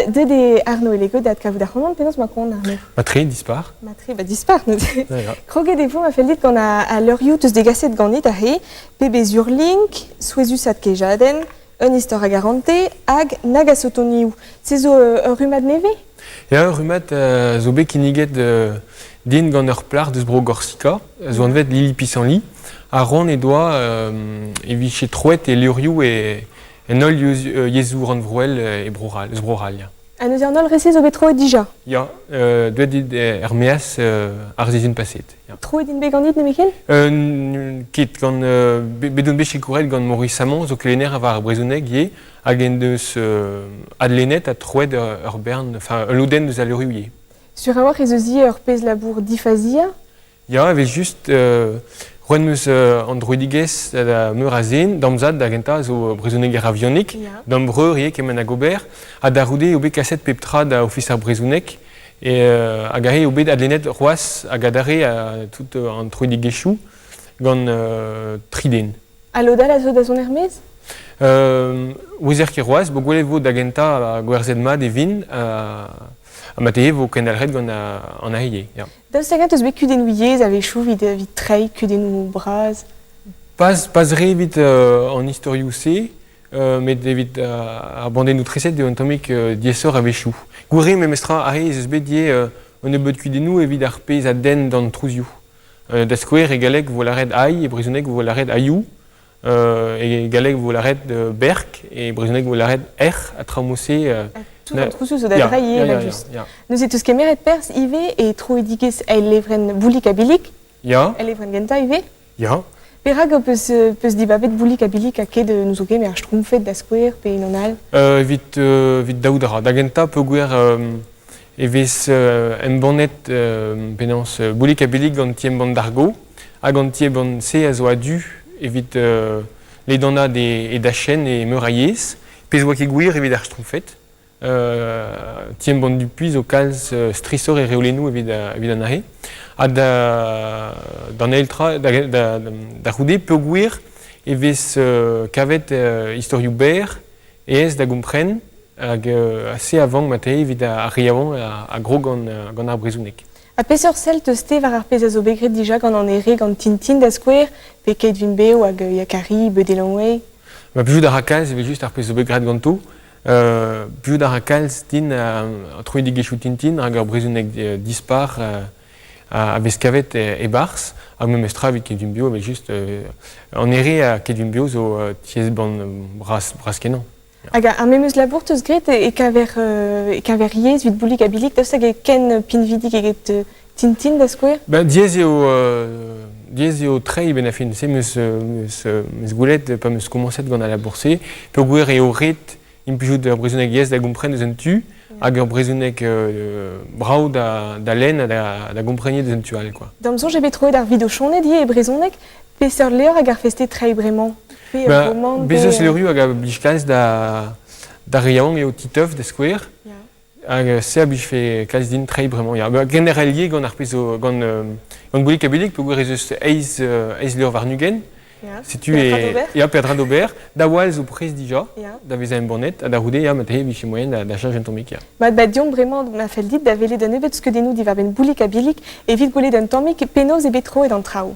Deuet eo Arno Elego da adkavout ac'hanon. Penaos ma koan, Arno Ma tre dispar. Ma tre ba dispar neuze. Kroget e vo ma fellit gant al levrioù teus degaset ganit aze. Pebezh Urlink, souezhusat kejadenn, un istor a garante hag nag a sotonioù. Se zo ur rummad nevez Ya, ur rummad euh, zo bet kinniget euh, din gant ur plac'h deus Bro-Gorsika, zo anvet Lili Pisanli. Ar ron he doa euh, e vije troet e levrioù e, En holl yezhoù rannvroel e Bro-C'hall, eus Bro-C'hall, ya. Ha n'eus an holl re-se zo bet troet dija? Ya, euh, deuet dit er-meaz euh, ar sizhun paset. Ya. Troet int bet ganit nemetken? Euh, ket, gant, euh, bet on bet sikouret gant Maurice Samon, zo kelenner war ar brezhoneg ivez, hag en deus euh, adlennet ha troet ur bern, enfin, un lodenn eus al levrioù ivez. Sur a-walc'h ez eus ivez ur pezh labour difazia. Ya, evel-just, euh, roet meus euh, an droidigezh da meur a zen, d'am zad da gentañ zo brezhoneger avionik, yeah. d'am breur ivez kement hag ober, ha da c'houde eo bet kaset pep tra da Ofis ar Brezhoneg, et, euh, hag aze eo bet adlennet c'hoazh hag adarre euh, tout euh, an troidigezhioù gant euh, tri den. A lod-all a zo da zont er-maez euh, Ouezer ket roaz, bo gwelet vo da gentañ gwerzhet mat e vin, ha ma te vo kendalc'het gant an ahe. Yeah. Daoust hag-eñ eus bet kudennoù yezh a-wechoù evit treiñ kudennoù bras pas, pas re evit euh, an istorioù-se, euh, met evit ar bandennoù treset eo un tammig euh, diaesoc'h a-wechoù. Gouere memestra ar re ez eus bet diaes un nebeud kudennoù evit ar pezh a denn d'an trouzioù. da skouer, e galleg vo lâret aï, e brezhoneg vo lâret aioù. E galleg vo lâret berk, e brezhoneg vo lâret erc'h, ha traoù-se... Tout an trouzioù zo da drailh evel-just. Neuze teus kemeret perzh ivez e troidigezh El levrenn Boulig ha Billig, el levrenn gentañ ivez. Ya. Perak peus, peus dibabet Boulig ha Billig ha ket nous zo kemer Schtroumpfed da skouer pe unan all? Evit, evit daout a ra. Da gentañ peogwir e vez embannet penaos Boulik-ha-Billig gant ti-embann Dargo hag an ti-embann-se a zo a-du evit ledanaat e dachenn e meur a yezh, pezh 'oa ket gwir evit ar Schtroumpfed. Ti-embann Dupuis zo kalz strishoc'h e reolennoù evit an arre. Ha d'an eil tra, da c'houde, peogwir e vez kavet istorioù berr aes da gompren hag se a vank mat eo evit ar re yaouank a grog gant ar brezhoneg. Ha peseurt sell teus-te war ar pezh a zo bet graet dija gant an ere gant Tintin da skouer, pe Keit Vin Bev hag Yakari, Beudet Lanway? Ma plijout a ra kalz evel just ar pezh zo bet graet ganto. Uh, plijout a ra kalz din uh, troidigezhioù Tintin rak ur brezhoneg dispar uh, a vez kavet e-barzh, ha memes tra evit Kedumbio, evel just, an ere a Kedumbio zo tiez-bann bras-kenañ. Hag ar memeus labour teus graet e kaver, e kaver yezh evit Boulig ha Bilig, daoust hag e ken pinvidik eget Tintin da skouer? Ben, diaes eo, diaes eo treiñ ben a fin-se, meus goulet pa meus komañset gant al labour-se, peogwir eo ret implijout ur brezhoneg yes da gompren eus un tu hag ur brezhoneg euh, brav da, da lenn ha da, da gomprenniñ eus un tu all quoi. D'am soñj eo bet troet ar videochonet ivez e brezhoneg. Peseurt levr hag ar feste treiñ bremañ? Pe ben, romant? Bezos levrioù hag a blij kalz da, da re yaouank eo Titeuf da skouer. Yeah. Hag se a blijfe kalz din treiñ bremañ. Ya, ba, generallier gant ar pezh zo, gant, euh, gant Boulig ha Boulig, peogwir ez eus eizh euh, eizh levr warn-ugent. Ya. Setu Peadra e... d'ober. Ya, Peadra d'ober. Da wall zo prest dija, Ya. da vezañ embannet, ha da c'houde, ya, ma te vije moaien da, da cheñch un tammig, ya. Mat ba deomp bremañ ma fell dit da welet un nebeud skeudennoù diwar-benn Boulig ha Billig evit gwelet un tammig penaos eo bet troet an traoù.